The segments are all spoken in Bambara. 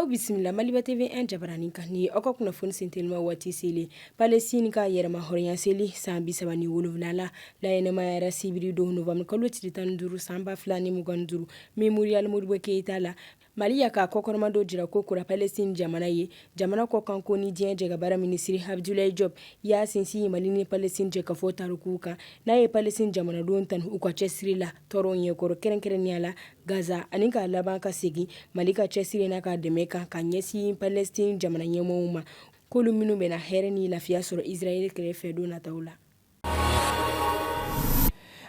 Aw bisimila maliba TV 1 jabaranin kan ni aw ka kunnafoni senteliman waati selen Palestine ka yɛrɛmahɔrɔnya seli san bisaba ni wolonfila la laɲɛnamayara sibiri don novanburukalo tile tan duuru san ba fila ni mugan duuru Memorial Modibo Keyita la Mali y'a ka kɔkɔrɔmadon jira ko kura Palestine jamana ye, jamana kɔkanko ni diɲɛ jɛkabaara minisiri Abudulayi Jɔp y'a sinsin Mali ni Palestine jɛkafɔ tariku kan, n'a ye Palestine jamanadenw tanu u ka cɛsiri la tɔɔrɔ ɲɛkɔrɔ, kɛrɛnkɛrɛnnenya la Gaza, ani ka laban ka segin Mali ka cɛsiri n'a ka dɛmɛ kan ka ɲɛsin Palestine jamana ɲɛmɔɔw ma, k'olu minnu bɛna hɛrɛ ni lafiya sɔrɔ Israel kɛrɛfɛ don nataw la.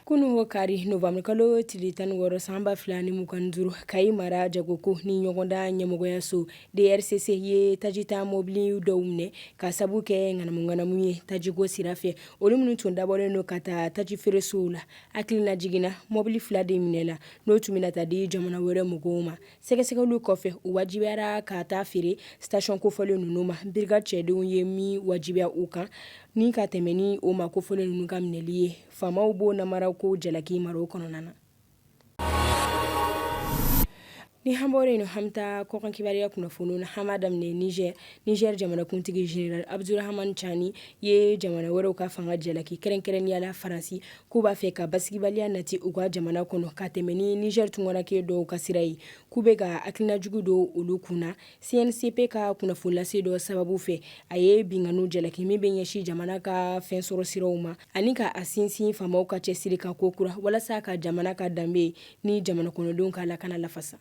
kunun kari novanburukalo tile tan ni wɔɔrɔ san ba fila ni mugan duuru Kayi mara jagoko ni ɲɔgɔndan ɲɛmɔgɔyaso drcc ye tajita mɔbili dɔw minɛ ka sabu kɛ ŋanamuŋanamu ye tajiko sira fɛ olu minnu tun dabɔlen don ka taa taji feeresow la hakililajigin na mɔbili fila de minɛla n'o tun bɛna taa di jamana wɛrɛ mɔgɔw ma sɛgɛsɛgɛliw kɔfɛ u wajibiyara ka taa feere station kofɔlen ninnu ma birigadi cɛdenw ye min wajibiya u kan ni ka tɛmɛ ni o maa kofɔlen ninnu ka minɛli ye faamaw b'o namarako jalaki mara kɔnɔna na ni an bɔra yen an bɛ taa kɔkan kibaruya kunnafoni na an b'a daminɛ nizɛr nizɛri jamanakuntigi zenerali abudurahamani cani ye jamana wɛrɛw ka fanga jalaki kɛrɛnkɛrɛnnenya la faransi k'u b'a fɛ ka basigibaliya nati u ka jamana kɔnɔ ka tɛmɛ ni niger tunkaranke dɔw ka sira ye k'u bɛ ka hakilina jugu don olu kun na cncp ka kunnafonilase dɔ sababu fɛ a ye binkanni jalaki min bɛ ɲɛsin jamana ka fɛn sɔrɔ siraw ma ani ka a sinsin faamaw ka cɛsiri kan ko kura walasa ka jamana ka danbe ni jamana kɔnɔdenw ka lakana lafasa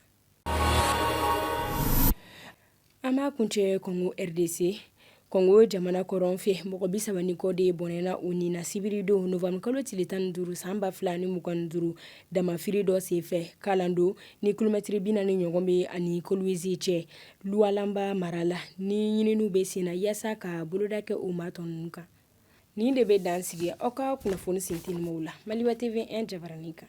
An b'a kuncɛ kɔngo rdc kɔngo jamana kɔrɔn fɛ mɔgɔ bisaba ni kɔ de bɔnɛna u ni na sibiridon novanburukalo tile tan ni duuru san ba fila ni mugan duuru damanfiri dɔ senfɛ Kalando ni kilomɛtiri binaani ɲɔgɔn b'a ni Kolwezi cɛ Lualaba mara la ni ɲininiw bɛ sen na yaasa ka boloda kɛ u maa tɔ ninnu kan nin de bɛ dan sigi aw ka kunnafoni sentelimanw la maliba TV 1 jabaranin kan